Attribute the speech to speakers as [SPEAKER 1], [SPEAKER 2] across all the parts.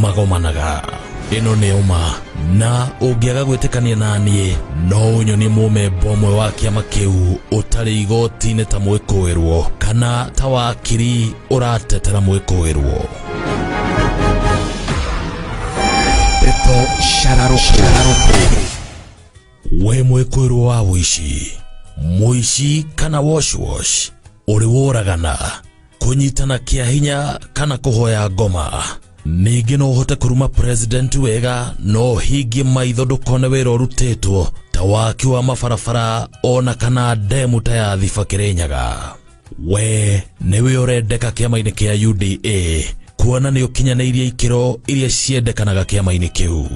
[SPEAKER 1] magomanaga ĩno nĩ ũma na ũngĩaga gwĩtĩkania na niĩ no ũnyonie mũmemba ũmwe wa kĩama kĩu ũtarĩ igoti-inĩ ta mwĩkũĩrwo kana ta wakiri ũratetera mwĩkũĩrwo ndeto
[SPEAKER 2] cararũkũ
[SPEAKER 1] we mwĩkũĩrwo wa ũici mũici kana washwash ũrĩ woragana kũnyitana kĩa hinya kana kũhoya ngoma ningĩ no ũhote kũruma president wega no hingie maitho ndũkone wĩra ũrutĩtwo ta waki wa mabarabara ona kana ndemu ta ya thiba kĩrĩnyaga we nĩwe ũrendeka kĩama-inĩ kĩa uda kuona nĩ ũkinyanĩirie ikĩro iria ciendekanaga kĩama-inĩ kĩu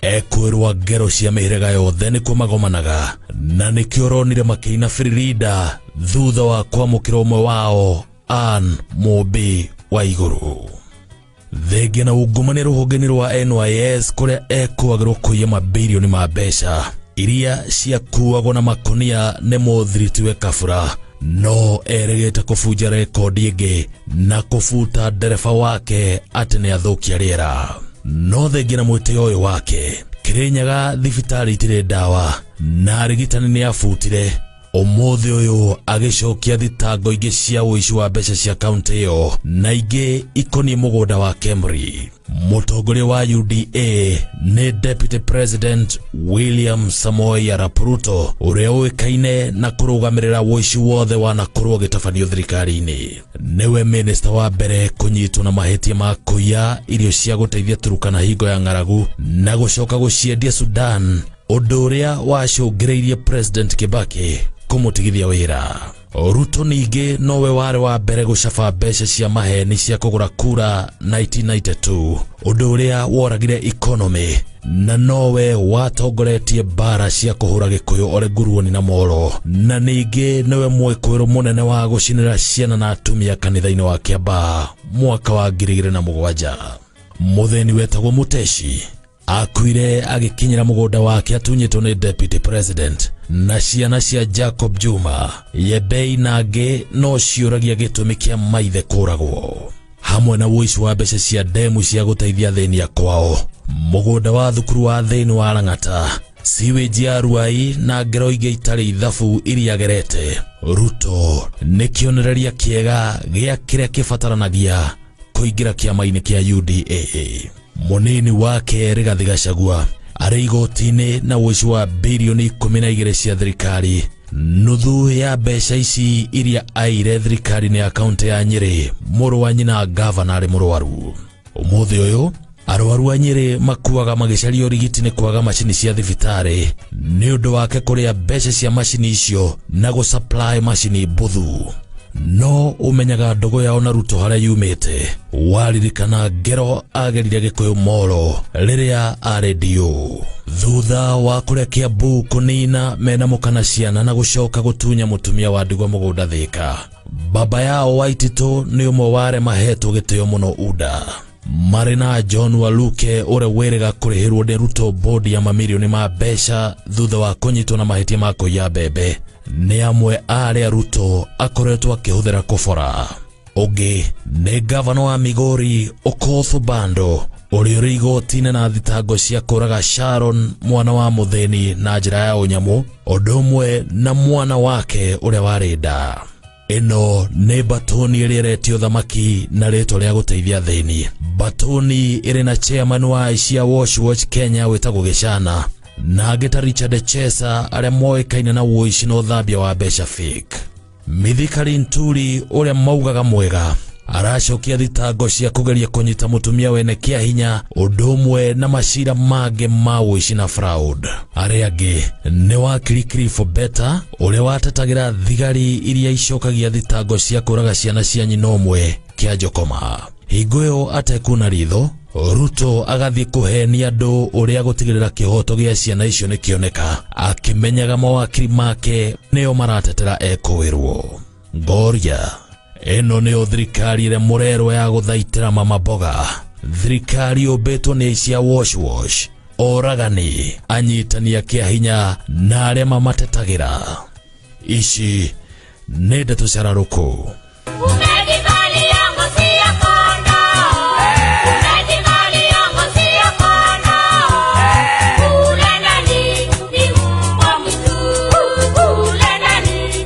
[SPEAKER 1] ekwĩrwa ngero cia mĩhĩrĩga yothe nĩkuo magomanaga na nĩkĩo ronire makĩina firirida thutha wa kwamũkĩra ũmwe wao an mũmbi wa igũrũ thengia na ungumania rũhonge-inĩ rwa NYS kũrĩa ekwagĩrwo kũiya mabilioni ma mbeca iria ciakuagwo na makonia nĩ mũthiritiwe kabura no erĩgĩte kũbunja rekondi ĩngĩ na kũbuta ndereba wake atĩ nĩ athũkia rĩera no thengia na mwĩtĩo ũyũ wake kĩrĩnyaga thibitarĩ itirĩ ndawa na arigitani nĩ abutire ũmũthĩ ũyũ agĩcokia thitango ingĩ cia ũici wa mbeca cia kaunti ĩyo na ingĩ ikoniĩ mũgũnda wa kemri Mũtongoria wa UDA nĩ Deputy President William Samoei Arap Ruto ũrĩa ũĩkaine na kũrũgamĩrĩra ũici wothe wanakorwo ũgĩtabanio thirikari-inĩ. Nĩwe minista wa mbere kũnyitwo na mahĩtia ma kũiya irio cia gũteithia Turukana hingo ya ng'aragu na gũcoka gũciendia Sudan, ũndũ ũrĩa wacũngĩrĩirie President Kibaki kũmũtigithia wĩra. Ruto ningĩ nowe warĩ wa mbere gũcaba mbeca cia maheni cia kũgũra kura 1992 ũndũ ũrĩa woragire economy na nowe watongoretie mbara cia kũhũra gĩkũyũ ore nguruoni na moro na ningĩ nĩwe mwĩkũĩrũ mũnene wa gũcinĩra ciana na atumia kanitha-inĩ wa kĩambaa mwaka wa ngiri igĩrĩ na mũgwanja mũthĩni wetagwo mũteci akuire agĩkinyĩra mũgũnda wake atunyĩtwo nĩ deputy president na ciana cia jacob juma yebei na angĩ no ciũragia gĩtũmi kĩa maithe kũragwo hamwe na woici wa mbeca cia ndemu cia gũteithia thĩni ya kwao mũgũnda wa thukuru wa thĩni wa rang'ata siweji ya ruai na ngero ingĩ itarĩ ithabu iria agerete ruto nĩ kĩonereria kĩega gĩa kĩrĩa kĩbataranagia kũingĩra kĩama-inĩ kĩa uda Mũnini wake Rigathi Gachagua arĩ igoti-inĩ na ũici wa birioni ikũmi na igĩrĩ cia thirikari. Nuthu ya mbeca ici iria aire thirikari-inĩ ya kaunti ya Nyĩrĩ, mũrũ wa nyina ngavana arĩ mũrwaru. Ũmũthĩ ũyũ arwaru a Nyĩrĩ makuaga magĩcaria ũrigiti nĩ kwaga macini cia thibitarĩ nĩ ũndũ wake kũrĩa mbeca cia macini icio na gũsupply macini mbuthu. no ũmenyaga ndogo yao na ruto harĩa yumĩte waririkana ngero agerire gĩkũyũ moro rĩrĩa arĩ ndiũ thutha wa kũrĩa kĩambu kũnina mena mũkana ciana na gũcoka gũtunya mũtumia wa ndigwa mũgũnda thĩka baba yao waititũ nĩ ũmwe wa arĩa mahetwo gĩtĩo mũno unda marĩ na john waluke ũrĩa wĩrĩga kũrĩhĩrwo nĩ ruto bodi ya mamirioni ma mbeca thutha wa kũnyitwo na mahĩtia ma kũiya mbembe nĩ amwe a arĩa Ruto akoretwo akĩhũthĩra kũbora. Ũngĩ nĩ ngavana wa Migori Okoth Obando ũrĩa ũrĩ igoti-inĩ na thitango cia kũraga Sharon mwana wa mũthĩni na njĩra ya ũnyamũ ũndũ ũmwe na mwana wake ũrĩa warĩ nda. ĩno nĩ mbatũni ĩrĩa ĩretio thamaki na rĩtwa rĩa gũteithia thĩni mbatũni ĩrĩ na chairman wa aici a watch watch kenya wĩtagwo gĩcana na angĩ ta richard chesa arĩa moĩkaine na ũici na ũthambia wa mbeca fake mithikari nturi ũrĩa maugaga mwega aracokia thitango cia kũgeria kũnyita mũtumia wene kĩa hinya ũndũ ũmwe na macira mangĩ ma ũici na fraud arĩa angĩ nĩ wakiri kirifo beta ũrĩa watetagĩra thigari iria icokagia thitango cia kũraga ciana cia nyina ũmwe kĩa njokoma hingo ĩyo atekuna ritho ruto agathiĩ kũhenia andũ ũrĩa gũtigĩrĩra kĩhoto gĩa ciana icio nĩkĩoneka akĩmenyaga mawakiri make nĩo maratetera ekũĩrwo Ngoria, ĩno nĩyo thirikari ĩrĩa mũrerwo ya gũthaitĩra mama mboga. Thirikari yũmbĩtwo nĩ aici a wash wash, oragani, anyitani a kĩa hinya na arĩa mamatetagĩra. Ici nĩ ndeto cararũkũ. Umejivalia ngozi ya kondoo. Umejivalia ngozi ya kondoo. Ule nani ni mbwa mwitu. Ule nani